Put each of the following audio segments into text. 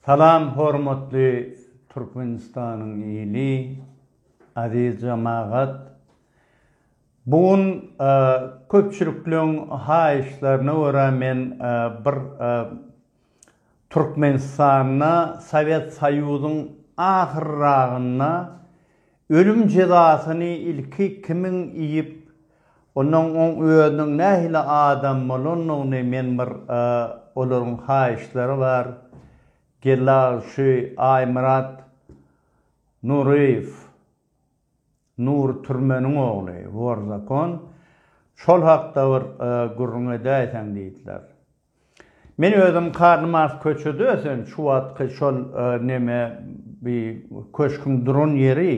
Salam hormatly Türkmenistanyň ili, aziz jemagat! Bu gün köpçülikleň haýyşlaryna görä men bir Türkmenistanda Sowet Soýuzyň ahyrragynda Ölüm jezasyny ilki kimiň iýip, onnoň oň özüniň nähili adam bolandygyny men bir olaryň haýyşlary bar, Geldi aga şu Aýmyrat Nuryýew, Nury türmeniň ogly, wor zakon, şol hakda bir gürrüň edäýseň diýdiler. Men özüm Karl Mars köçede ösen şu wagtky şol neme bi köşküň duran ýeri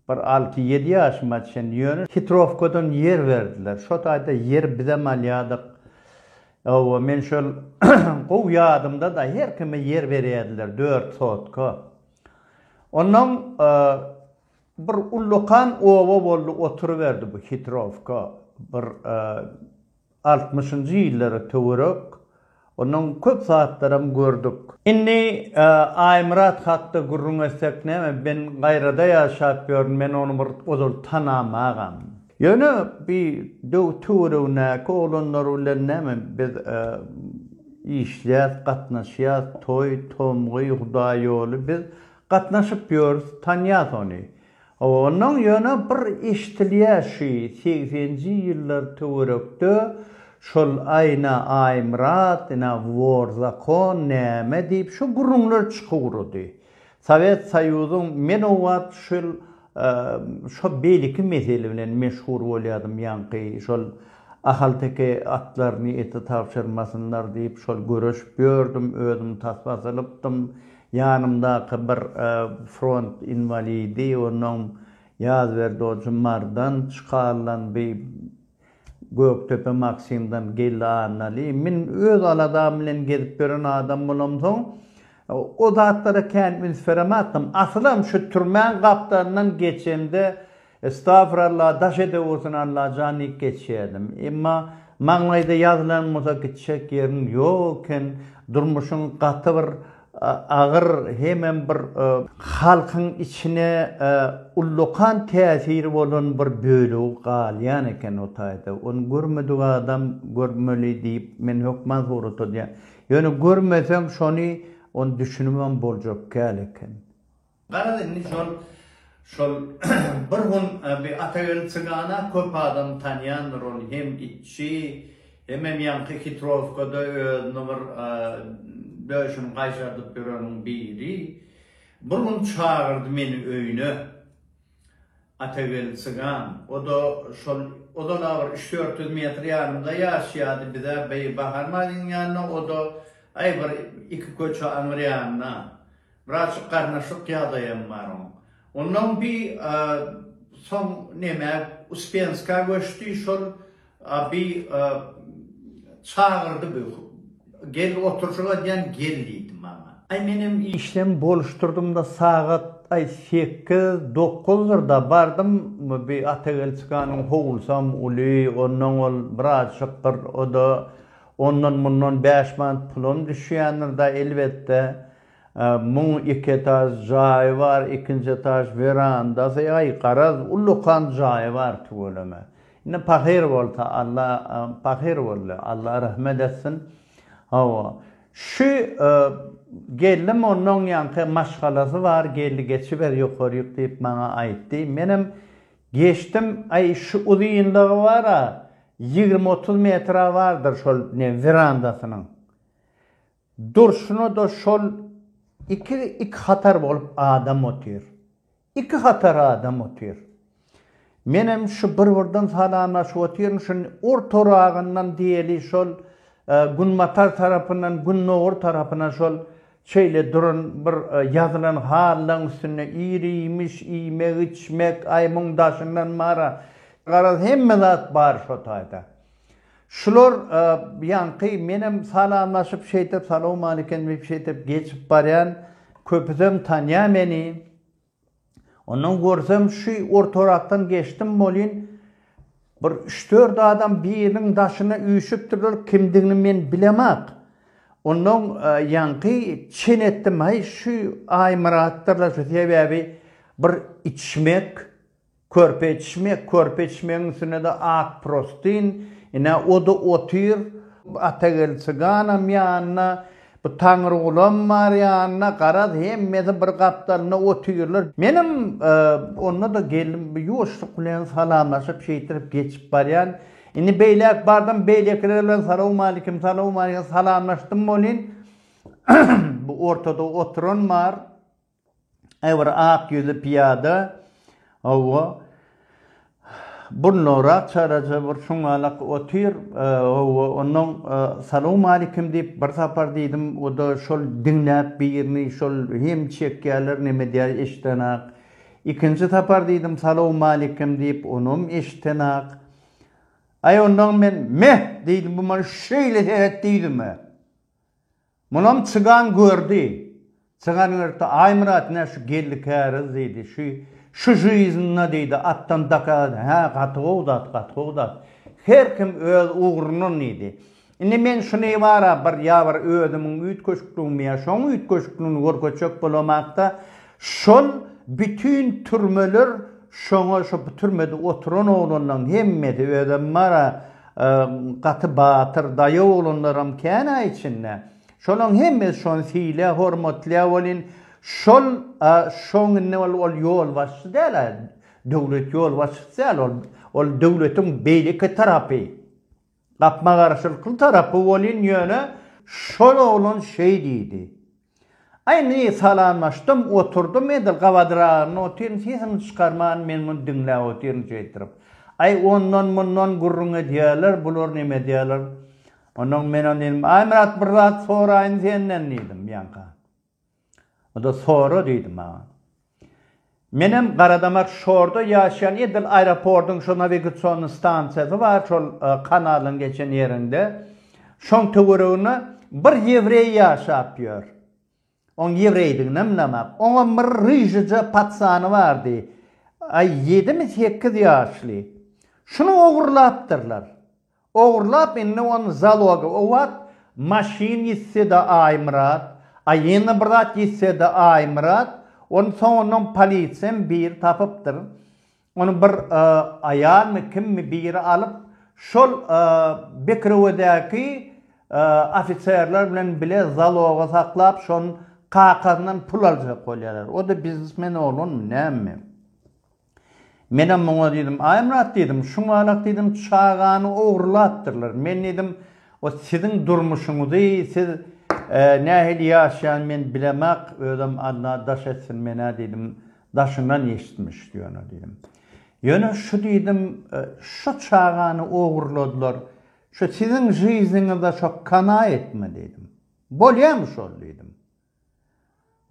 bir alty ýedi ýaşyma çen ýöne hitrowkadan ýer berdiler şo taýda ýer bizem alýadyk owo men şol gowy ýadymda da her kime ýer berýädiler dört sotka onnoň bir ullakan oba boldy oturyberdi bu hitrowka bir Altmyşynjy ýyllara töwerek ondan köp zatlaram gördük. Indi Aýmyrat hakda gürrüň etsek näme, men Gaýrada ýaşap ýörün, men ony bir ozal tanamagam. Ýöne bi töweregindäki oglanlar bilen näme biz işleýäs, gatnaşýas, toý, tomgy, hudaý ýoly biz gatnaşyp ýörüs, tanýas ony. Ondan ýöne bir eşdilýä şü segsenji ýyllar töwerekde şol Aýna Aýmyrat ina wor zakon näme diýip şu gürrüňler çykugrady. Sowet Soýuzyň men o wagt şul şo beýleki mesele bilen meşgur bolýadym ýaňky şol ahalteke atlaryny ete tabşyrmasynlar diýip şol göreşip ýördüm özüm tasma sylypdym Ýanymdaky bir front inwalidi, onuň Ýazberdi Ojy Mardan, Çkaldan bi Gökdepe Maksimden geldi Annaly. Men öz aladam bilen gezip ýören adam bolamsoň, o zatlara kän üns berematdym. Asylam şu türmäň gapdalyndan geçemde Estagfuralla daş edewursun Allajan diýip geçýädim. Emma maňlaýda ýazylan bolsa gitjek ýeriň ýok eken. Durmuşyň gaty bir agyr hemem bir halkyň içine ullakan täsiri bolan bir bölegi galýan eken o taýda. Ony görmedik adam görmeli diýip men hökman surat alýan. Ýöne görmeseň şony ony düşünibem boljak kal eken. Garaz indi şol şol bir gün bir Atageldi Cygana köp adam tanýandyr ol hem itçi hemem ýaňky Hitrowkada özüni bir döşüni gaýşardyp ýöreniň biri. Bir gün çagyrdy meni öýüne. Atagel çygan, o-da şol ozal-a bir üç-dört ýüz metr ýanymda ýaşaýardy, biz-ä beý Bahar Marynyň ýanyna, o-da, aý, bir iki köçe aňyr ýanyna. Birazjyk garnaşyk ýagdaýam bar oň. Onnoň bi soň nemä, Uspenska göçdi, şol Abi çagyrdy bu gel oturjyga diýen gel diýdi maňa. Aý menem işden boluşdyrdymda sagat aý sekiz dokuzdyr-da bardym bi Atagelçikanyň howlusam uly onnoň ol birazjyk bir oda ondan mundan bäş manat pulam düşýändir-da elbetde muň iki etaž jaýy bar ikinji etaž werandasy aý garaz ullakan jaýy bar tüweleme Indi pahyr bolsa Alla pahyr boldy. Alla rahmet etsin. Hawa. Şu geldi mondan ýanky maşgalasy bar geldi geçiber ýokaryk diýip maňa aýtdy. Menem geçdim. Aý şu uzynlygy bar-a ýigrimi otuz metre bardyr şol ne werandasynyň. Durşuna-da şol iki iki hatar bolup adam otyr. Iki hatar adam otyr. Menem şu bir-birden salamlaşyp otyryn, şu ortaragyndan diýeli şol günbatar tarapyndan gündogar tarapyna şol şeýle duran bir ýazylan halylaň üstünde ir-iýmiş, iýmek-içmek, aý muň daşyndan mara, garaz hemme zat bar şo taýda. Şular ýaňky menem salamlaşyp şeýtip salowmalikim diýip şeýtip geçip barýan köpüsem tanýa meni. Ondan görsem şu ortarakdan geçdim bolýyn bir üç-dört adam biriniň daşyna üýşüpdirler kimdigini men bilemak. Ondan ýaňky çen etdim haý şu Aýmyratdyr-la şu sebäbi bir içmek Körpe içmek, körpe içmegiň üstüne-de ak prostin, ine, o-da otyr, Atageldi çyganam ýanynda, bu Taňrygulam bar ýanynda, garaz, hemmesi bir gapdalynda otyrlar. Menem onda-da geldim, ýuwaşlyk bilen salamlaşyp, şeýtirip geçip barýan. Indi beýläk bardym, beýlekiler bilen salawmalikim, salawmalikim, salamlaşdym welin, bu ortada oturan bar. Aýbir ak ýüzli pyýada hawa, burnugrak çaýraja bir şuňňalak otyr, hawa, onnoň salawmalikim diýip bir sapar diýdim, o-da şol diňläp birini, şol hem çekýärler, nem edýär eşidenak. Ikinji sapar diýdim, salawmalikim diýip, onam eşidenak. Aý, onnoň men, Meh! diýdim, bu maňa şeýle seret diýdim-ä. Munam çygan gördi. Çygan gördi, Aýmyrat, nä şu geldi käriz, diýdi. Şu, şu žyýzynda, diýdi, atdan dakagaz. Hä, gaty gowy zat, gaty gowy zat. Her kim öz ugrundan, diýdi. Indi men şuny bar-a, bir ýa bir özümiň üýtgeşikligimi ýa şoň üýtgeşikligini görkezjek bolamak-da, Şol bütin türmeler şoňa şo bu türmede oturan oglanlaň hemmesi özem bara gaty batyr daýaw oglanlaram känä içinde şolaň hemmesi şony siýlä hormatlýa welin şol şoň indi ol ol ýolbaşçy dälä döwlet ýolbaşçysy däl ol ol döwletiň beýleki tarapy. Gapma-garşylykly tarapy welin ýöne şol oglan şeý diýdi. Indi salamlaşdym, oturdym, edil gabadyragynda otyryn, sesini çykarman men muny diňläp otyryn şeýtirip. Aý, ondan-mundan gürrüň edýärler, bular näme edýärler. Ondan men ony diýdim, Aýmyrat, bir zat soraýyn senden diýdim, ýaňka. Onda sora diýdi maňa. Menem Garadamak şorda ýaşaýan edil aeropordyň şo nawigasion stansiýasy bar şol kanalyň geçen ýerinde. Şoň töwereginde bir ýewreý ýaşap ýör. Oň ýewreýdiginem bilemok. Oňam bir ryžyja patsany bardy. Aý ýedimi sekiz ýaşly. Şuny ogurlapdyrlar. Ogurlap indi ony zaloga obat maşyn ýitsede Aýmyrat a ýene bir zat ýitsede Aýmyrat ony soňundan polisiýam biri tapypdyr ony bir aýalmy kimmi biri alyp şol Bekrewedäki ofiserler bilen bile zaloga saklap şonuň kakasyndan pul aljak bolýarlar o da biznesmen oglanmy näme. Menem muňa diýdim, Aýmyrat diýdim, şuňalak diýdim, çagany ogrulapdyrlar. Men diýdim, o siziň durmuşyňyzy, siz nähili ýaşaýan men bilemak, özem Alla daş etsin menä diýdim, daşyndan eşitmiş ýöne diýdim. Ýöne şu diýdim, şu çagany ogruladylar, şu siziň žyznyňyzda şo kanaýatmy diýdim. Bolýamy şol diýdim.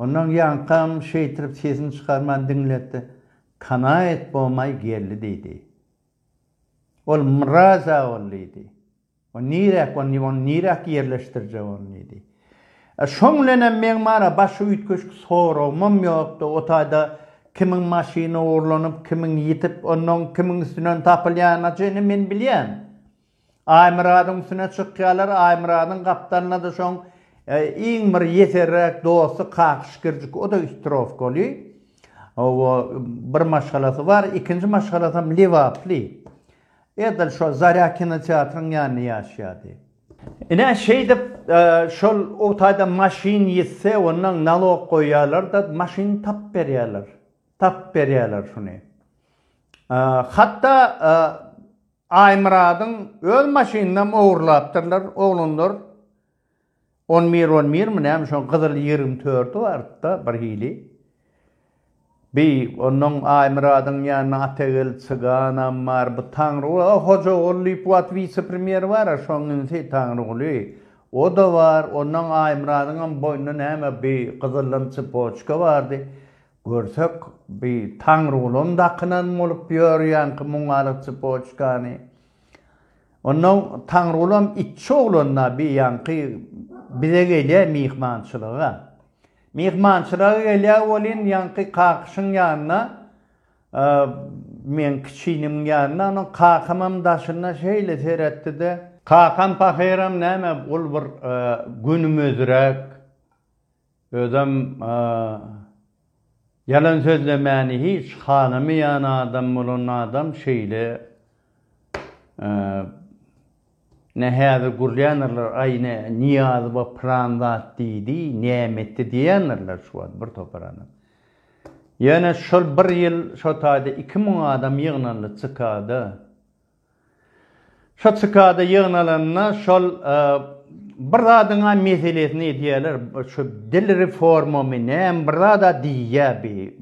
Ondan ýaňkam şeýtrip sesini çykarman diňletdi. Kanaýat bomaý geldi diýdi. Ol mraz aol diýdi. O niräk ony ony niräk ýerleşdirjek ony diýdi. E şoň bilenem meň mana başga üýtgeşik soragymam ýokdy. O taýda kimiň maşyny ogurlanyp, kimiň ýitip, onnoň kimiň üstünden tapylýanyny çenli men bilýän. Aýmyradyň üstüne çykýarlar, Aýmyradyň gapdalyna-da şoň iň bir ýeserräk dosty Kakyş Girjik, o-da üstrowkaly. Hawa, bir maşgalasy bar, ikinji maşgalasam lebaply. Edil şo Zarýa kinoteatryň ýanynda ýaşaýardy. Ine, şeýdip, şol o taýdan maşyn ýitse, ondan nalog goýýarlar-da, maşyny tapyp berýärler. Tapyp berýärler şuny. Hatda Aýmyradyň öz maşynynam ogurlapdyrlar oglanlar. On bir on birmi näme şoň gyzyl ýigrimi tördi bardy-da birhili. Bi onnoň Aýmyradyň ýanynda Ategel çyganam bar, bu Taňryguly, o Hojaguly diýip wagt wise-premýer bar-a şoň inisi Taňryguly. O-da bar, onnoň Aýmyradyňam boýnunda näme bi gyzyldan çepoçka bardy. Görsek, bi Taňrygulyň dakynan bolup ýörýänki muňalyk çypoçkany. Onnoň Taňrygulam itçi oglan-a bi ýaňky bize gelýä myhmançylyga. Myhmançylyga gelýä welin, ýaňky Kakyşyň ýanyna, meň kiçiniň ýanyna, onuň kakamam daşynda şeýle seretdi-de. Kakam pahyram näme, ol bir gönümezräk, Özem ýalan sözlemäni hiç halamaýan adam bolan adam şeýle ne häzir gürländirler aý ne Nyýazowa pylan zat diýdi näme etdi diýendirler şu wagt bir topar adam. Ýöne şol bir ýyl şo taýda iki müň adam ýygnaldy CK-da. Şo çykada ýygnalanda şol bir zadyňa meselesini edýäler, şu dil reformamy näme bir zada diýýä bi.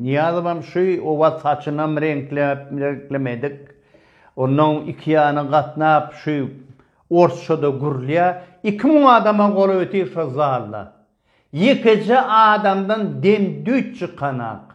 Nyýazowam şu owaz saçynam reňkläp, reňklemedik. Onnoň iki ýana gatnap şu orsça-da gürlýä. Iki müň adama golaýti şo zalda. Ýekeje adamdan dem-düýt çykanak.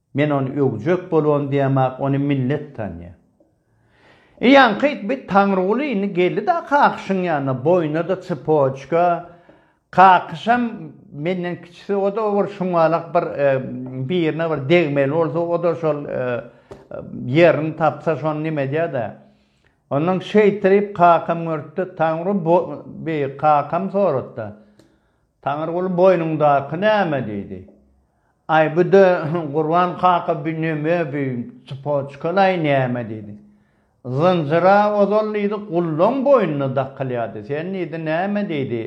Men ony öwjek bolon diýemok, ony millet tanýar. I ýaňky ýitbi Taňryguly indi geldi-de Kakyşyň ýanyna, boýnuna-da çypoçka, Kakyşam menden kiçisi, o-da bir şuňňalak bir birine bir degmeli bolsa, o-da şol ýerini tapsa, şony neme edýär-dä. Onnoň şeýtirip kakam görüpdi, Taňry bu, bi, kakam sorady-da, Taňryguly boýnuňdaky näme? diýdi. Aý bu-da Gurban kaka bu neme bu tsypoçkalaý näme diýdi. Zynjyra ozal diýdi gullaň boýnuna dakylýardy sen diýdi näme diýdi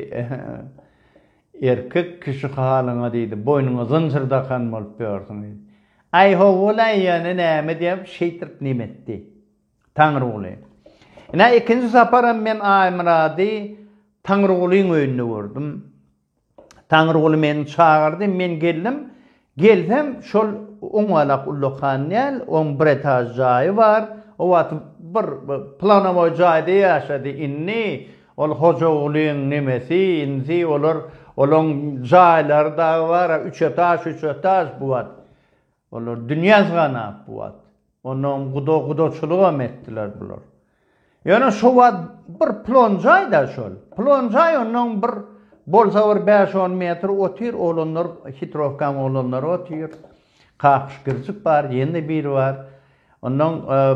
erkek kişi halyňa diýdi boýnuňa zynjyr dakan bolup ýörsüň diýdi. Aý howwulaý ýöne näme diýip şeýtirip neme etdi. Taňryguly. Ine ikinji saparam men Aýmyrady Taňrygulyň öýünde gördüm. Taňryguly meni çagyrdy, men geldim. Gelsem, şol oňalak ullakan däl, oň bir etaž jaýy bar. O wagt bir planowoý jaýda ýaşady. Indi ol Hojagulyň nemesi, inisi, olar, olaň jaýlary dagy bar-a, üç etaž, üç etaž bu wagt. Olar dünýä syganap bu wagt. Onam guda gudaçylygam etdiler bular. Ýöne şo wagt bir plon jaýda şol. Plon jaý onam bir bolsa bir bäş on metr otyr oglanlar hitrowkaň oglanlary otyr. Kakyş girjik bar ýene biri bar. Onam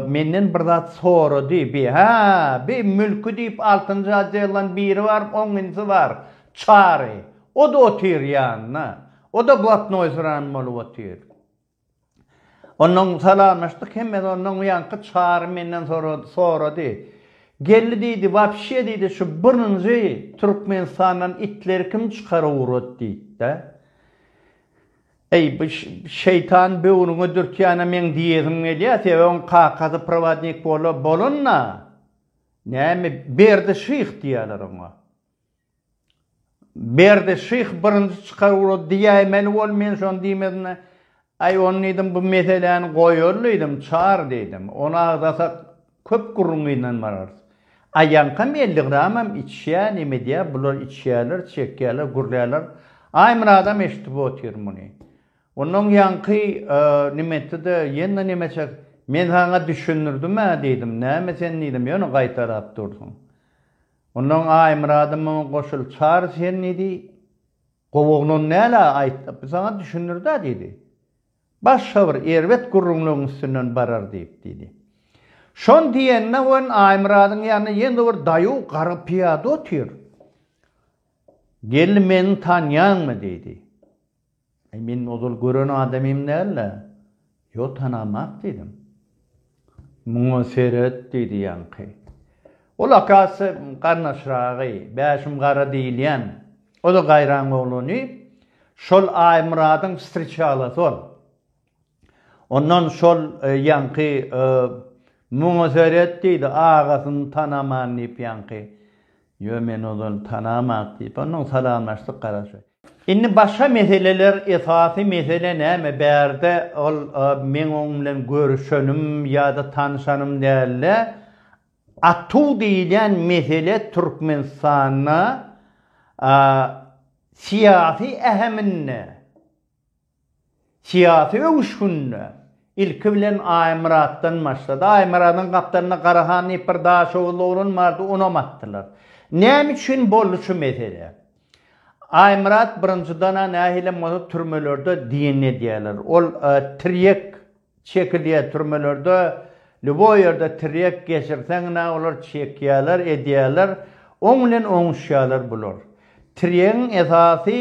menden bir zat sorady bi hä bi mülki diýip altynjy oddeldan biri bar oňňinsi bar çary o-da otyr ýanynda. O-da blatnoý syran bolup otyr. Onnoň salamlaşdyk, hemmet onnoň bu ýanky Çary menden sorady, sorady. Geldi diýdi, wapşe diýdi, şu birinji Türkmenistandan itleri kim çykaryp ugrat diýdi-dä. Eý, bu şeýtan böwrüňe dürtýän-ä meň diýesim gelýär, sebäbi oň kakasy prowodnik bola, bolan-da, näme, Berdi şyh diýýärler oňa. Berdi şyh birinji çykar ugrady diýäýmeli bol, men şony diýmezimde, Aý, ony diýdim, bu meseläni goýaly diýdim, çar diýdim. Ony agzasak, köp gürrüň gynanmararys. Aýaňkam elli gramam içýä, nemedýä, bular içýäler, çekýäler, gürlärler. Aýmyradam eşidip otyr muny. Ondan ýaňky nimetdi-de, ýene nemeçek, Men saňa düşündirdim-ä diýdim, näme sen diýdim, ýöne gaýtalap dursuň. Ondan Aýmyradymy goşul çar sen diýdi. Gowaglon näle aýtdy, biz saňa düşündir-dä diýdi. Başga bir erbet gürrüňleň üstünden barar diýip diýdi. Şony diýende wen Aýmyradyň ýanynda ýene bir daýaw garry pyýada otyr. Geldi meni tanýaňmy diýdi. Eý, men ozal gören adamym däl-le. Ýok, tanamok, diýdim. Muňa seret, diýdi ýaňky. Ol akasy garyndaşragy, Bäşim gara diýilýän. O-da gaýraň oglany. Şol Aýmyradyň wstriçalasy ol. Ondan şol ýaňky Muňa seret diýdi, agasyny tanaman diýip ýaňky. Ýo men ozal tanamak diýip, ondan salamlaşdyk garaşy. Indi başga meseleler esasy mesele näme bärde ol meň oň bilen görüşenim ýa-da tanyşanym däldi. Atuw diýilýän mesele Türkmenistanda syýasy äheminde, Syýasy öwüşginde ilki bilen Aýmyratdan başlady. Aýmyradyň gapdalynda Garahan diýip bir daşoguzly oglan bardy, onam atdylar. Näme üçin boldy şu mesele? Aýmyrat birinjidana nähilem bolsa türmelerde diýenini edýärler. Ol tirýek Çekilýä türmelerde lýuboý ýerde tirýek geçirseňňä olar çekýäler edýäler oň bilen oňuşýalar bular. Tirýegiň esasy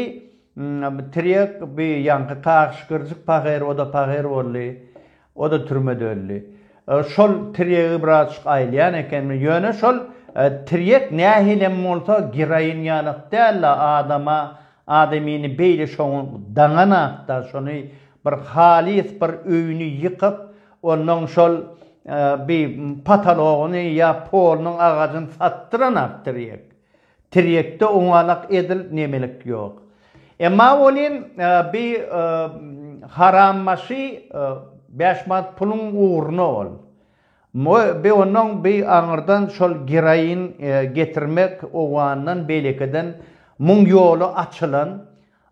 tirýek bi ýaňky taşkyrjyk pahyr oda pahyr boldy oda türmede öldi. Şol tirýegi birazçyk aýylýan ekenmi ýöne şol tirýek nähilem bolsa giraýin ýalak dälde adama Adamyny beýle şoň daňanak-da, şony bir halys bir öýüni ýykyp, onnoň şol bi patalogyny ýa polunyň agajyny satdyranak tirýek. Tirýekde oňalak edil nemelik ýok. Emma welin bi harambaşy bäş manat puluň ugruna ol. Bi onuň bi aňyrdan şol geroin getirmek owgandan beýlekiden muň ýoly açylan.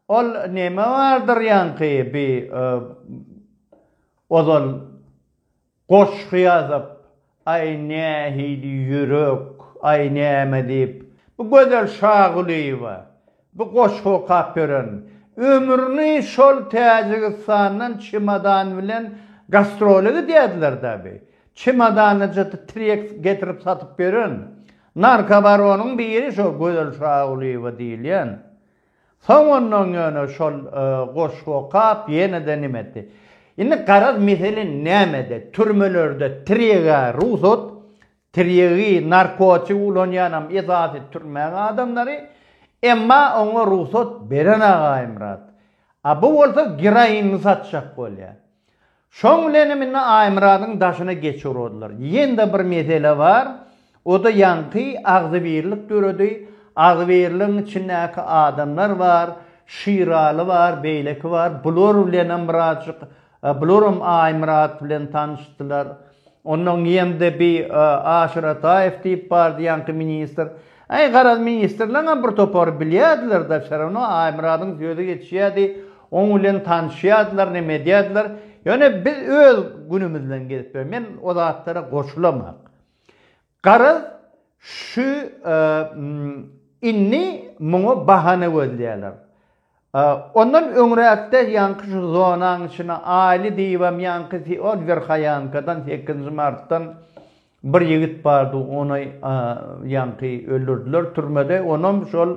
Ol neme bardyr ýaňky bi ozal goşgy ýazyp, Aý nähili ýürek, aý näme diýip, bi Gözel Şagulyýewa, Bu goşgy okap ýören, ömrüni şol Täjigistandan çemodan bilen gastrola gidýärdiler-dä bi. Çemodanajady trek getirip satyp ýören narkobaronyň biri şo Gözel Şagulyýewa diýilýän. Soň ondan ýöne şol goşgy okap ýene-de nime etdi. Indi garaz mesele nämede? Türmelerde trega rugsat, Tirýegi, narkotik ulanýanam esasy türmäň adamlary, emma oňa rugsat beren Agaýmyrat. A bu bolsa geroinini satjak bolýar. Şoň bilenem indi Aýmyradyň daşyna geçip uradlar. Ýene-de bir mesele bar, o-da ýaňky agzybirlik döredi, agzybirligiň içindäki adamlar bar, Şiraly bar, beýleki bar, bular bilenem birazjyk Bularam Aýmyrat bilen tanyşdylar. Ondan geýemde bi Aşyrataýew diýip bardy ýaňky ministr. Äý, garaz, ministrlerňem bir topary bilýärdiler-de, wsýarawno Aýmyradyň sözi geçýärdi, oň bilen tanyşýardylar, neme edýärdiler. Ýöne biz öz günümizden gezip ýörüs. Men o zatlara goşulamok. Garaz, şu indi muňa bahana gözleýärler. Ondan öňräkde ýaňky şu zonaň içine Aýly diýibem ýaňky ol Werhaýankadan sekizinji martdan bir ýigit bardy, ony ýaňky öldürdiler türmede, onam şol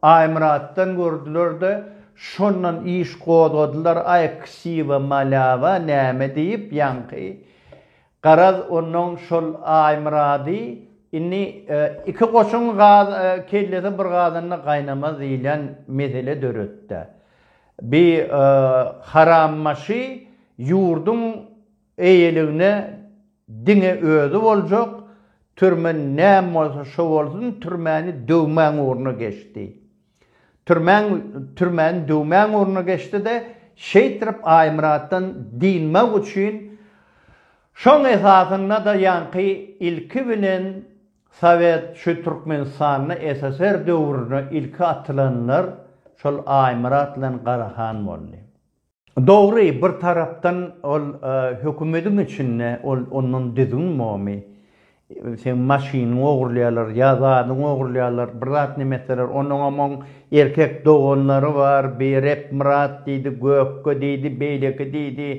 Aýmyratdan gördüler-de, şondan iş gozgadylar, aý ksiwa, malýawa näme diýip ýaňky Garaz, onnoň şol Aýmyrady indi iki goşuň kellesi bir gazanda gaýnamaz diýlen mesele döretdi. Bi harambaşy ýurduň eýeligine diňe özi boljak, türme näme bolsa şo bolsun, türmäni döwmäň ugruna geçdi. Türmäň türmäni döwmäň ornuna geçdi-de, şeýtrip Aýmyratdan dynmak üçin, şoň esasynda-da ýaňky ilki bilen Sowet şu Türkmenistanda SSR döwrüne ilki atylanlar şol Aýmyrat bilen Garahan boldy. Dogry, bir tarapdan ol hökümediň içinde ol ondan düzgün bomy, seň maşynyňy ogurlaýarlar, ýa zadyňy ogurlaýarlar, bir zat neme etseler, onuňam oň erkek doganlary bar, bi Repmyrat diýdi, Gökge diýdi, beýleki diýdi,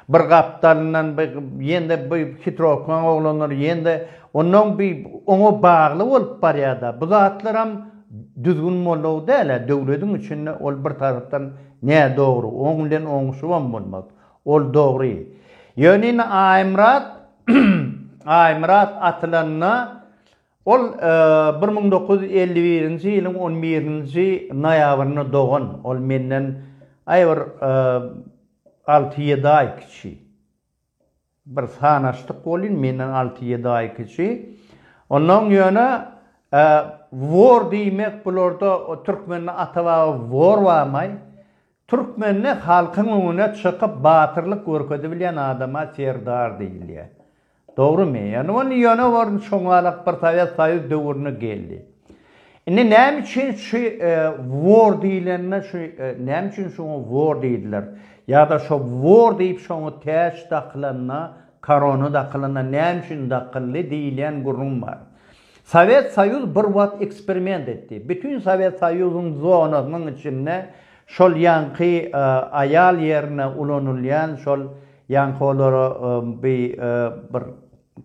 bir gapdalyndan bi ýene-de bi hitrowkaň oglanlar ýene-de onnoň bi oňa bagly bolup barýar-da. Bu zatlaram düzgün bolug däl-ä, döwlediň içinde ol bir tarapdan Nä dogry, oň bilen oňuşybam bolmaz. Ol dogry. Ýöne indi Aýmyrat, Aýmyrat atylanda, ol bir müň dokuz ýüz elli birinji ýylyň on birinji noýabrynda dogan. Ol menden aý bir alty-ýedi aý kiçi. Bir sanaşdyk welin, menden alty-ýedi aý kiçi. Onnoň ýöne wor diýmek bularda türkmende ata-baba wor barmaý. Türkmende halkyň öňüne çykyp batyrlyk görkezibilýän adama serdar diýilýär. Dogrymy? Ýöne wor çoňalak bir Sowet Soýuz döwründe geldi. Indi näme üçin şu wor diýilende şu näme üçin şoňa wor diýdiler? Ýa-da şo wor diýip şoňa täç dakylanda, korona dakylanda näme üçin dakyldy diýilýän gürrüň bar. Sowet Soýuz bir wagt eksperiment etdi. Bütin Sowet Soýuzyň zonasynyň içinde şol ýaňky aýal ýerine ulanylýan şol ýaňky olara bir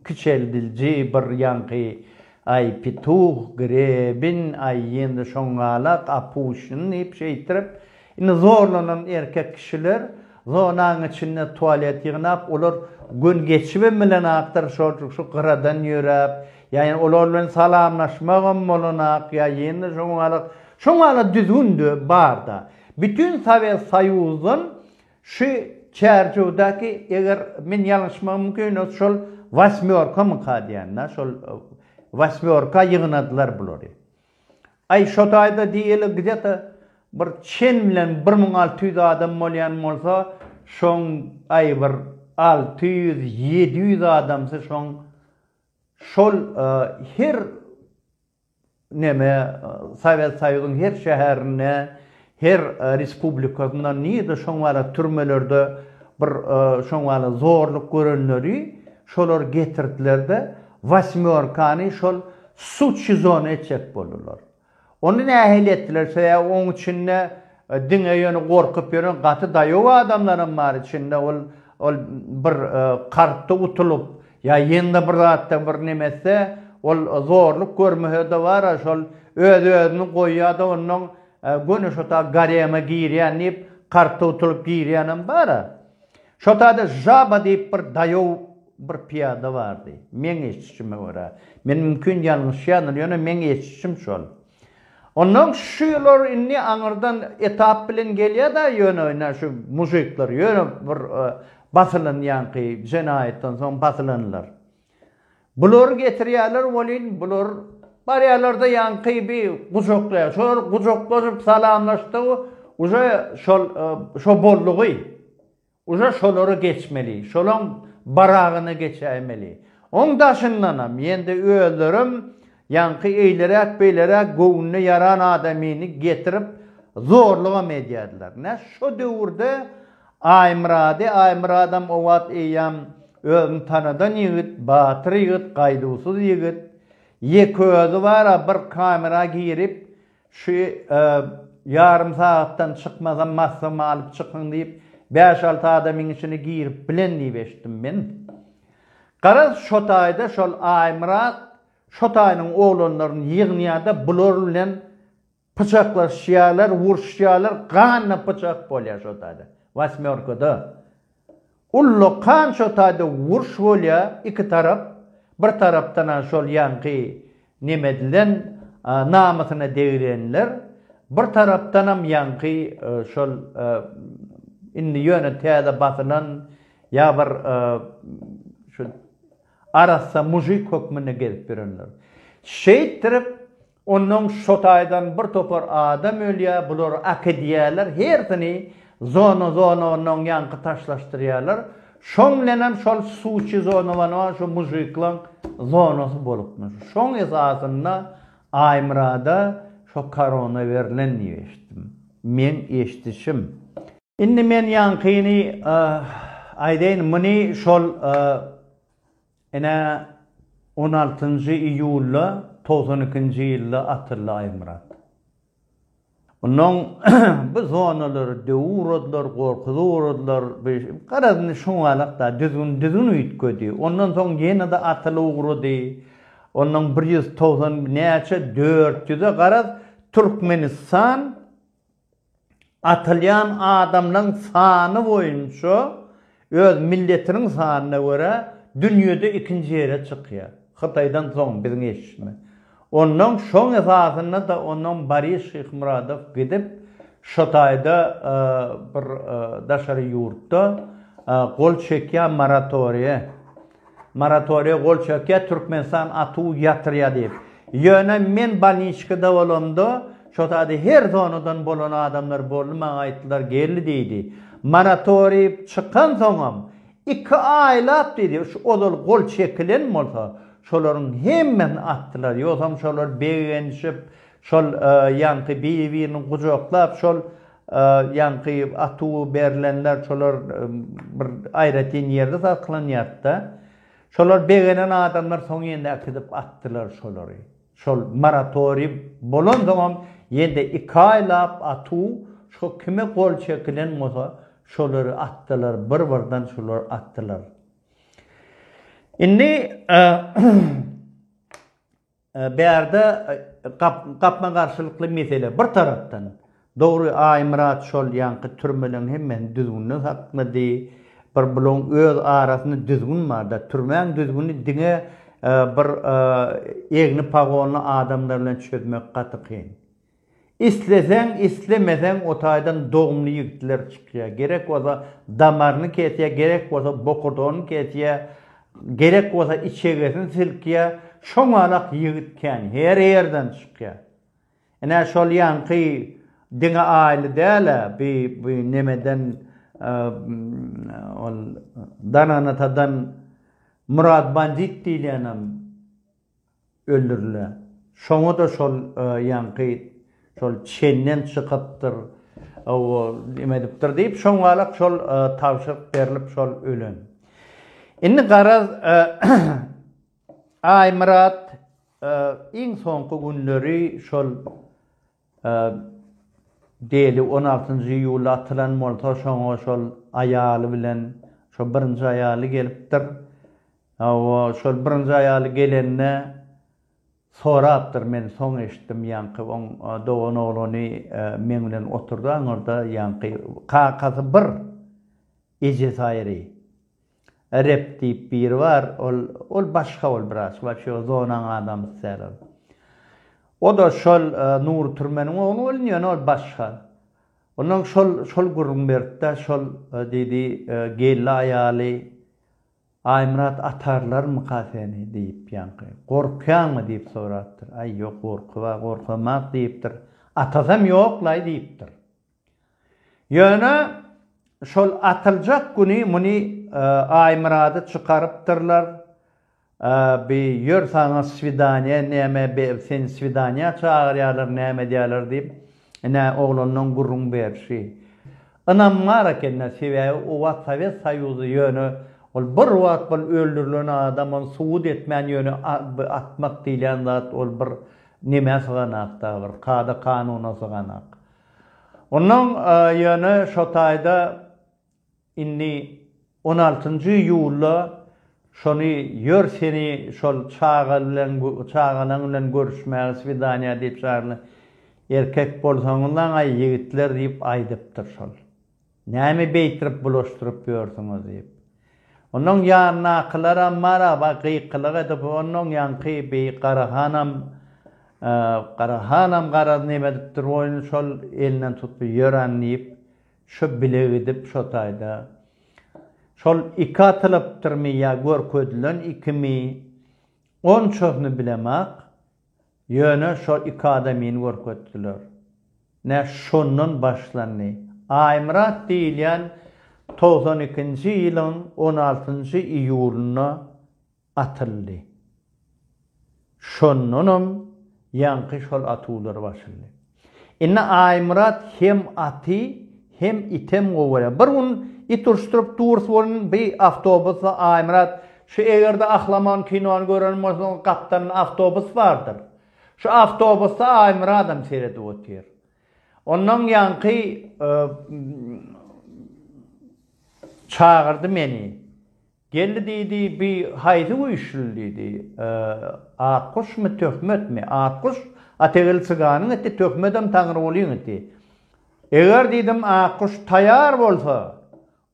Kiçeldilji bir ýaňky Aý, Pituh, Grebin, aý, ýene-de şoňňalak Apuşyn diýip şeýtirip, indi zorlanan erkek kişiler zonanyň içinde tualet ýygnap, olar gün geçibem bilenakdyr, şoljik şu gyradan ýöräp, ýa ýene olar bilen salamlaşmagam bolanak, ýa ýene-de şoňňalak, şoňňalak düzgün-de bar-da. Bütin Sowet Soýuzdan Şu çärjewdäki eger men ýalňyşmagym mümkin ol şol wasmýorkamyka diýýän da şol wasmýorka ýygnadylar bulary. Aý şo taýda diýeli gdeta bir çen bilen bir müň alty ýüz adam bolýan bolsa şoň aý bir alty ýüz ýedi ýüz adamsy şoň şol her Näme, Sowet Soýuzyň her şäherinde, her respublikasynda nirede şoň wala türmelerde bir şoň wala zorluk görenleri şolar getirdiler-de, Wasmýorkany şol sudçi zona etjek boldular. Ony nähili etdiler, sebäbi oň içinde Diňe ýöne gorkup ýören gaty daýow adamlaram bar içinde ol ol bir kartda utulyp ýa ýene-de bir zatda bir neme etse ol zorluk görmese-de bar-a şol öz özüni goýýa-da onnoň göni şota garema girýän diýip kartda utulyp girýänem bar-a. Şotada Žaba diýip bir daýow bir pyýada bardy. Meň eşdişime görä. Men mümkin ýalňyşýandyr ýöne meň eşdişim şol. Ondan şu ýylar indi aňyrdan etap bilen gelýär-de, ýöne ine şu mujikler ýöne bir basylan ýaňky jenaýatdan soň basylanlar. Bulary getirýärler welin, bular barýarlar-da ýaňky bir gujaklaýar. Şolar gujaklanyp salamlaşdygy uje şol şo boldugy. Uza şolary geçmeli, şolaň baragyna geçäýmeli. Oň daşyndanam, ýende özlerem ýaňky eýleräk-beýleräk göwnüne ýaran adamyny getirip zorlugam edýärdiler. Nä şo döwürde Aýmyrady, Aýmyradam o wagt eýýäm özüni tanadan ýigit, batyr ýigit, gaýduwsyz ýigit, ýeke özi bar-a bir kamera girip, Şu ýarym sagatdan çykmazam maslagymy alyp çykyň diýip, bäş-alty adamyň içine girip bilen diýip eşitdim men. Garaz, şo taýda şol Aýmyrat şo taýynyň oglanlaryny ýygnýar-da, bular bilen pyçaklaşýarlar, uruşýarlar, ganly pyçak bolýar şo taýda, wasmýorkada. Ullakan şo taýda urş bolýa iki tarap bir tarapdan a şol ýaňky nemedilen namysyna degrenler bir tarapdanam ýaňky şol indi ýöne täze basylan ýa bir şu arassa mujik hökmünde gezip ýörenler şeýtdirip Onnoň şo taýdan bir topar adam ölýä, bular akidýäler, hersini zona zona onnoň ýaňky taşlaşdyrýalar, şoň bilenem şol suçi zonowanoan şo mužikloň zonasy bolupmyş, şoň esasynda Aýmyrada şo korona berlen diýip eşitdim, meň eşdişim. Indi men ýaňkyny aýdaýyn, muny şol Ine, on altynjy iýulda togsan ikinji ýylda atyldy Aýmyrat. Onnoň bu zonalary döwüp-ugradylar, gorkuzyp ugradylar. Garaz, indi şoňalak-da düzgün-düzgün üýtgedi. Ondan soň ýene-de atylyp ugrady. Onnoň bir ýüz togsan näçe, dört ýüze, garaz, Türkmenistan atylýan adamlaň sany boýunça öz milletiniň sanyna görä dünýede ikinji ýere çykýar. Hytaýdan soň biziň eşme. Onnoň şoň esasynda-da onnoň Boris Şyhmyradow gidip şo taýda bir daşary ýurtda gol çekýär moratoriýe. Moratoriýa gol çökýär, Türkmenistan atuw ýatyrýar diýip. Ýöne men bolniçkada bolamda, şo sady her zonadan bolan adamlar boldy, maňa aýtdylar, geldi diýdi. Moratoriý çykansoňam, iki aýlap diýdi, ozal gol çekilen bolsa, şolaryň hemmesini atdylar. Ýogsam şolar begenişip, şol ýaňky biri-birini gujaklap, şol Ýaňky atuw berlenler şolar bir aýratyn ýerde saklanýardy-da. Şolar begenen adamlar soň ýene äkidip atdylar şolary. Şol moratoriý bolansoňam ýene-de iki aýlap atuw şo kime gol çekilen bolsa şolary atdylar, bir-birden şolary atdylar. Indi Bärde gapma-garşylykly mesele. Bir tarapdan, dogry, Aýmyrat şol ýaňky türmeleriň hemmesini düzgünden satmady. Bir bularyň öz arasynda düzgün bar-da. Türmäň düzgüni diňe bir egni pagonly adamlar bilen çözmek gaty kyn. Isleseň islemeseň otaýdan dogumly ýigitler çykýa gerek bolsa damaryny kesýä gerek bolsa bokurdagyny kesýä gerek bolsa içegesini silkýä şoňalak ýigit kän her ýerden çykýa ine şol ýaňky diňe aýly dälä bi bi nemeden ol dananatadan murad bandit diýilýänem öldüriler. Şoňa-da şol ýaňky şol çenden çykypdyr, ol neme edipdir diýip, şoňalak şol tabşyryk berlip şol ölen. Indi garaz, Aýmyrat iň soňky günleri şol Deli on altynjy iýulda atylan bolsa, şoňa şol aýaly bilen, şo birinji aýaly gelipdir. Hawa, şol birinji aýaly gelende sorapdyr, men soň eşitdim, ýaňky oň dogan oglany meň bilen oturdy aňyrda, ýaňky kakasy bir, ejesi aýry. Rep diýip biri bar, ol, ol başga ol biraz, waçe ol zonaň adamysy däl ol. O-da şol Nury türmeniň ogly boldy, ýöne ol başga. Onnoň şol, şol gürrüň beripdi, şol diýdi, geldi aýaly, Aýmyrat atarlarmyka seni diýip ýaňky, gorkýaňmy diýip sorapdyr. Aý, ýok, gorky bar, gorkamok diýipdir. Atasam ýok-laý diýipdir. Ýöne şol atyljak güni muny Aýmyrady çykarypdyrlar, bi ýör saňa swidaniýa näme be seni swidaniýa çagyrýarlar näme edýärler diýip ine oglanlaň gürrüň berşi ynamňar ekendä sebäbi o wagt sowet soýuzy ýöne ol bir wagt bol öldürilen adam ony subut etmän ýöne bi atmak diýilýän zat ol bir nemä syganakda bir kada kanuna syganak Ondan ýöne şo taýda indi on altynjy iýulda şony ýör seni şol çaga bilen çagalaň bilen görüşmäge swidaniýa diýip çagyrylar. Erkek bolsaňyzaň-aý ýigitler diýip aýdypdyr şol. Näme beýtirip bulaşdyryp ýörsüňiz? diýip. Onuň ýanyndakylaram maraba gykylyk edip, onuň ýaňky bi Gara hanam, Gara hanam garaz neme edipdir bu ony şol elinden tutup ýören diýip, şu bile gidip şo taýda şol iki atylypdyrmy ýa görkezilen ikimi, onçasyny bilemak, Ýöne şo iki adamyny görkezdiler. Nä şondan başlandy. Aýmyrat diýilýän togsan ikinji ýylyň on altynjy iýulynda atyldy. Şondanam ýaňky şol atuwlar başldy. Indi Aýmyrat hem aty, hem item gowy görýär. Bir gün it uruşdyryp durus bolun, bi awtobusda Aýmyrat, Şu eger-de Ahlaman kinony gören bolsaň, gapdalynda awtobus bardyr. Şu awtobusda Aýmyradam seredip otyr. Ondan ýaňky çagyrdy meni. Geldi diýdi, Bi haýsy güýçlül? diýdi. Akguşmy, Töhmetmi? Akguş, Ategil çyganyň iti, Töhmedem Taňrygulyň iti. Eger diýdim, Akguş taýar bolsa,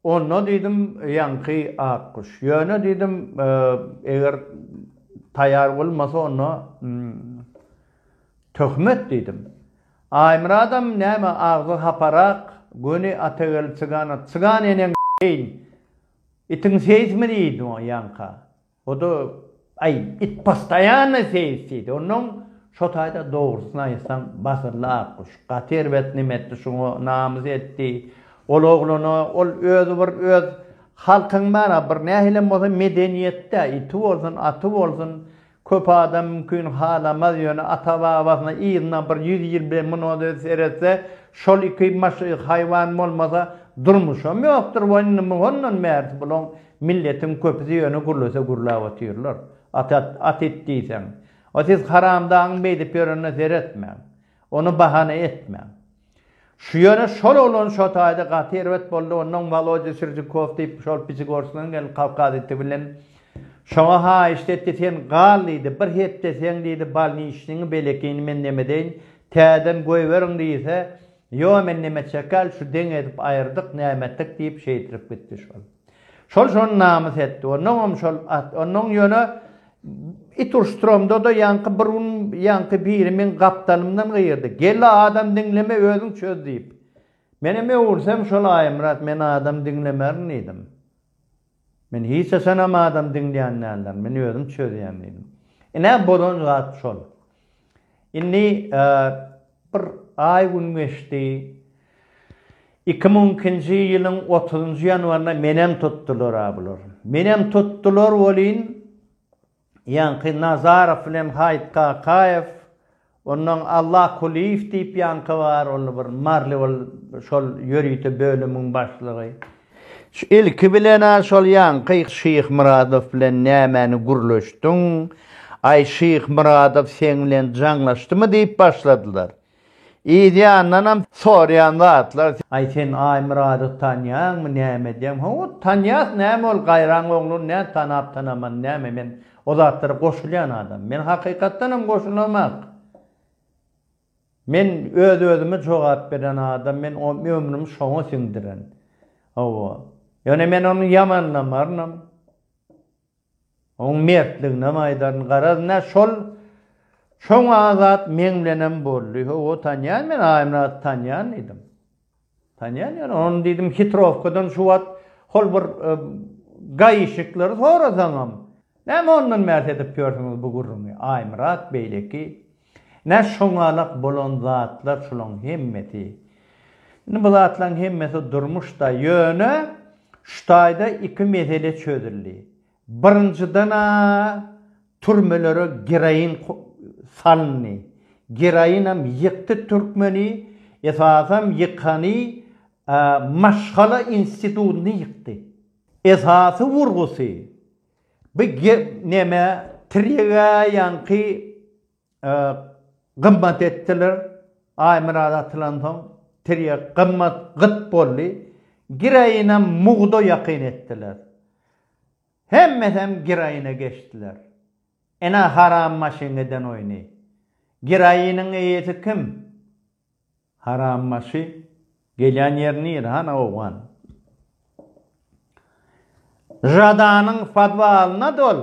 onda diýdim, ýaňky Akguş. Ýöne diýdim, eger taýar bolmasa, onda Töhmet diýdim. Aýmyradam näme agzy haparak, göni Ategil çygana, Çygan eneň deýin, Itiň seýismi diýdi oňa ýaňka. O-da, Aý, it postaýanno seýis diýdi. Onnoň, Şo taýda dogrusyny aýtsaň, basyrly akguş. Gaty erbet neme etdi şuňa, namys etdi. Ol oglana, ol özi bir öz halkyň bar-a, bir nähilem bolsa medeniýetde, iti bolsun, aty bolsun, Köp adam mümkin halamaz, ýöne ata-babasyna yzyna bir ýüz ýyl bilen munada seretse, şol iki haýwan bolmasa, durmuşam ýokdur we indi hondan bärsi bulaň milletiň köpüsi ýöne gürlese gürläp otyrlar. At, at it diýseň. Siz haramdagyň beýdip ýörene seretmäň. Ony bahana etmäň. Şu ýöne şol oglan şo taýda gaty erbet boldy onnoň Walodýa Sirjikow diýip şol Piçigorskynyň gelip Kawkaz iti bilen şoňa haýyşt etdi sen gal diýdi bir hepde seň diýdi balniçniňi belekini men nemedeýin täzeden goýberiň diýse ýo men neme çekäl şu deň edip aýyrdyk näme etdik diýip şeýtirip gitdi şol şol şony namys etdi onnoňam şol onnoň ýöne It uruşdyramda-da ýaňky bir gün ýaňky biri meň gapdalymdan gygyrdy, Gel-a, adam diňleme, özüň çöz diýip. Menem öwürsem şol, Aýmyrat, men adam diňlemerin diýdim. Men hiç haçanam adam diňleýän däldirin, men özüm çözýän diýdim. Ine, bozan zat şol. Indi bir aý-gün geçdi. Iki müň ikinji ýylyň otuzynjy ýanwarynda menem tutdular-a bular. Menem tutdular welin, ýaňky Nazarow bilen Haýyt Kakaýew, onnoň Alla Kulyýew diýip ýaňky bar, ol bir maryly ol şol ýörite bölümiň başlygy. Şu ilki bilen-ä şol ýaňky Şyhmyradow bilen nämäni gürleşdiň? Aý, Şyhmyradow seň bilen jaňlaşdymy diýip başladylar. Yzýandanam soraýan zatlar. Aý, sen Aýmyradowy tanýaňmy, näme edýäň? Hawa, tanýas, näme ol, gaýraň ogluny nädip tanap-tanaman, näme, men o zatlara goşulýan adam. Men hakykatdanam goşulamok. Men öz-özüme jogap beren adam, men ömrümi şoňa siňdiren. Hawa. Ýöne men ony ýamanlamarynam. Onuň mertliginem aýdaryn. Garaz, nä şol şoňa zat meň bilenem boldy. Hawa, tanýan men Aýmyraty tanýan diýdim. Tanýan ýöne ony diýdim hitrowkadan şu wagt hol bir gaýyşyklar sorasaňam näme ondan bäs edip ýörsüňiz bu gürrüňi Aýmyrat beýleki nä şoňalak bolan zatlar şulaň hemmesi indi bu zatlaň hemmesi durmuşda ýöne şu taýda iki mesele çözüldi Birinjiden-ä türmelere geroin salyndy. Geroinam ýykdy türkmeni, esasam ýykany maşgala institutyny ýykdy. Esasy urgusy, bu neme, Tiregaýaňky Gymmat etdiler. Aýmyrat atylansoň, tirýek gymmat gyt boldy. Giraýynam mugda ýakyn etdiler. Hemmesem giraýyna geçdiler. Ene haram maşyň eden oýny. Giraýynyň eýesi kim? Haram maşy. Gelýän ýeri nire, hany owgan? Žadanyň podwalyna dol.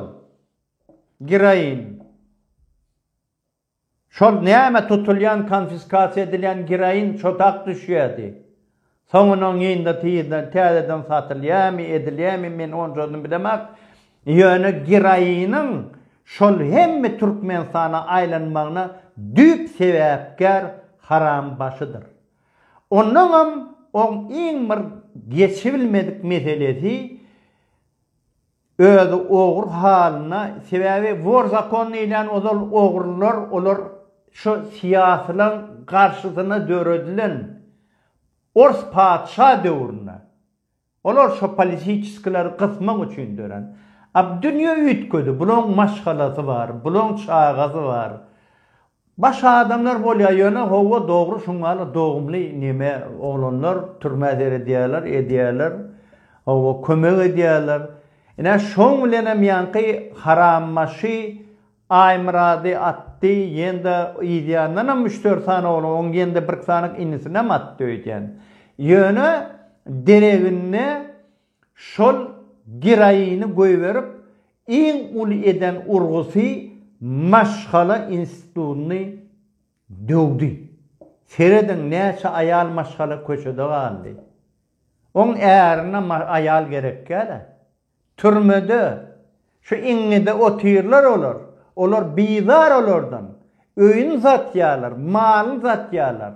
Giraýin. Şol näme tutulýan konfiskasiýa edilýän giraýin çodak düşýärdi. Soňunyň indi tizden täzeden satylýamy, edilýämi men onjasyny bilemak. Ýöne giraýiniň şol hemme Türkmenistana aýlanmagyna düýp sebäpkär haram başydyr. Onnoňam oň iň bir geçibilmedik meselesi Özi ogry halyna sebäbi wor zakon diýilýän ozal ogrylar olar şu syýasylaň garşysyna döredilen ors patyşa döwründe olar şo politiçiskileri gysmak üçin dörän a dünýe üýtgedi bulaň maşgalasy bar bulaň çagasy bar Baş adamlar bolýa ýöne howwa dogry şuňala dogumly neme oglanlar türmä seredýäler edýäler howwa kömek edýäler ine şoň bilenem ýaňky harambaşy Aýmyrady atdy ýende yzýandanam üç dört sany oglan oň ýende birki sanyk inisinem atdy öýdýän ýöne dereginde Şol geraini goýberip iň uly eden urgusy maşgala institutyny döwdi. Serediň näçe aýal maşgala köçede galdy. Oň ärine aýal gerekgälä. Türmede, şu iňňide otyrlar olar. Olar bizar olardan. Öýüni satýarlar, malyny satýarlar.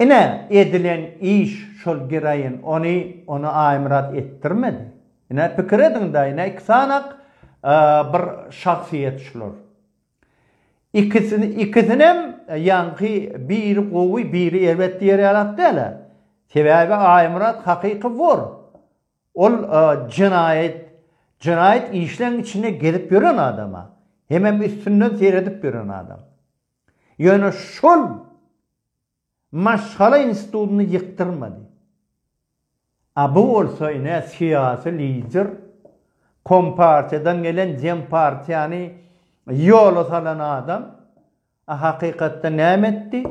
Ine, edilen iş şol giraýyn, ony, ony Aýmyrat etdirmedi. Ine, pikir ediň-dä, ine, iki sanak bir şahsyýet şular. Ikisi, ikisinem ýaňky biri gowy, biri erbet diýer ýalak däl-ä. Sebäbi Aýmyrat hakyky wor. Ol jenaýat, jenaýat işleň içinde gezip ýören adam-a. Hemem üstünden seredip ýören adam. Ýöne şol maşgala institutyny ýykdyrmady. A bu bolsa ine syýasy lider, kompartiýadan gelen dempartiýany ýola salan adam, a hakykatda näme etdi?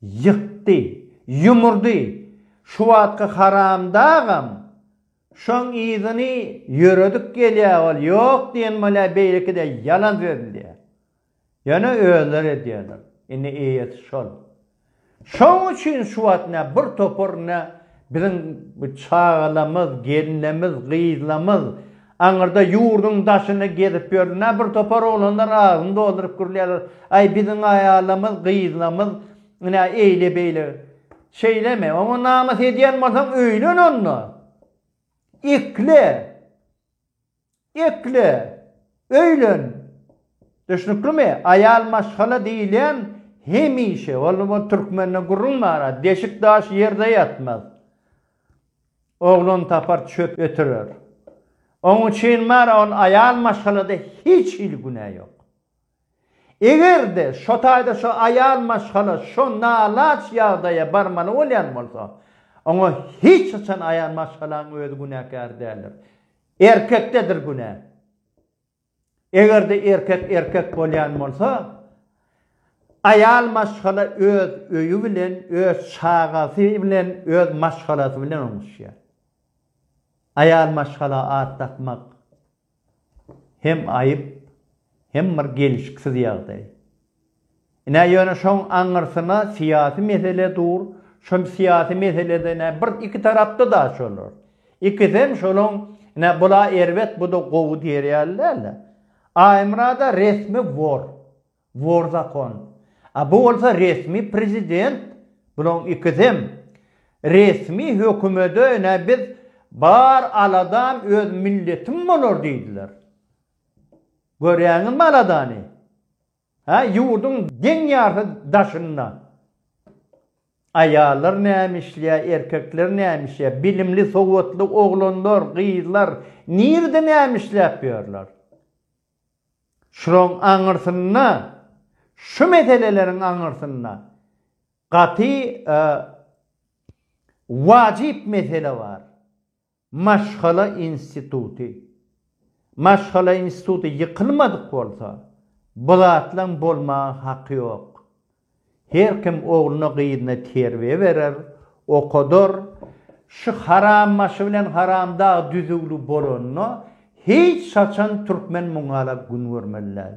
Ýykdy, ýumurdy. Şu wagtky haramdagam şoň yzyny ýöredip gelýär ol ýok diýen bolýar beýleki-de ýalan sözleýär. Ýöne özleri edýärler. Indi eýesi şol. Şoň üçin şu wagt nä bir topar nä biziň çagalamyz, gelinlemiz, gyzlamyz aňyrda ýurduň daşynda gezip ýörler. Nä bir topar oglanlar agzyny dolduryp gürleýärler, Aý, biziň aýalamyz, gyzlamyz nä eýle-beýle. Şeýlemi? Oňa namys edýän bolsaň, öýlen onda. Ekle. Ekle, öýlen. Düşnüklimi? Aýal maşgala diýilýän hemişe, ol ol türkmende gürrüň bar, deşik daş ýerde ýatmaz. Oglan tapar çöp ötürer. Oň üçin bar, ol aýal maşgalada hiç hili günä ýok. Eger-de şo taýda şo aýal maşgala şo nalaç ýagdaýa barmaly bolýan bolsa, oňa hiç haçan aýal maşgalaň özi günäkär däldir. Erkekdedir günä. Eger-de erkek erkek bolýan bolsa, aýal maşgala öz öýi bilen, öz çagasy bilen, öz maşgalasy bilen oňuşýar. Aýal maşgala at dakmak. hem aýyp, hem bir gelişiksiz ýagdaý. Ine, ýöne şoň aňyrsyna syýasy mesele dur, şol syýasy meselede, ine, bir iki tarapda-da şolar. Ikisem şolaň, ine, bul-a erbet, bu-da gowy diýer ýaly däl-de. Aýmyrat-a resmi wor. Wor zakon. A bu bolsa resmi prezident. Bulaň ikisem resmi hökümede ine biz bar aladam öz milletim bolar diýdiler. Görýäňizmi aladany? Hä ýurduň deň ýarty daşynda aýallar näme işleýär erkekler näme işleýär bilimli sowatly oglanlar gyzlar nirde näme işläp ýörler? Şulaň aňyrsynda, şu meseleleriň aňyrsynda gaty wajyp mesele bar. Maşgala instituty. Maşgala instituty ýykylmadyk bolsa, bu zatlaň bolmaga haky ýok. Her kim ogluny-gyzyny terbiýe berer, okadar, şu harambaşy bilen haramdag düzüwli bolanda hiç haçan türkmen muňala gün görmeli däl.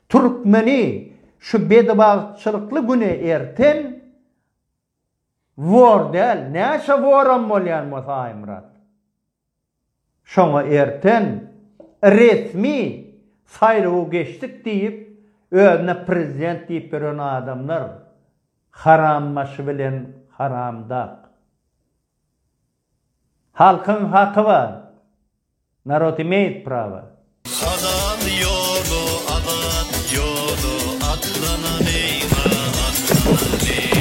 Türkmeni şu bedibagtçylykly güne erten wor däl, näçe woram bolýan bolsa Aýmyrat. Şoňa erten resmi saýlawa geçdik diýip, özüne prezident diýip ýören adamlar harambaşy bilen haramdag. Halkyň haky bar. Narod imeýt prawa. Halal ýola azat ýola atlanan eýwa atlanan eý.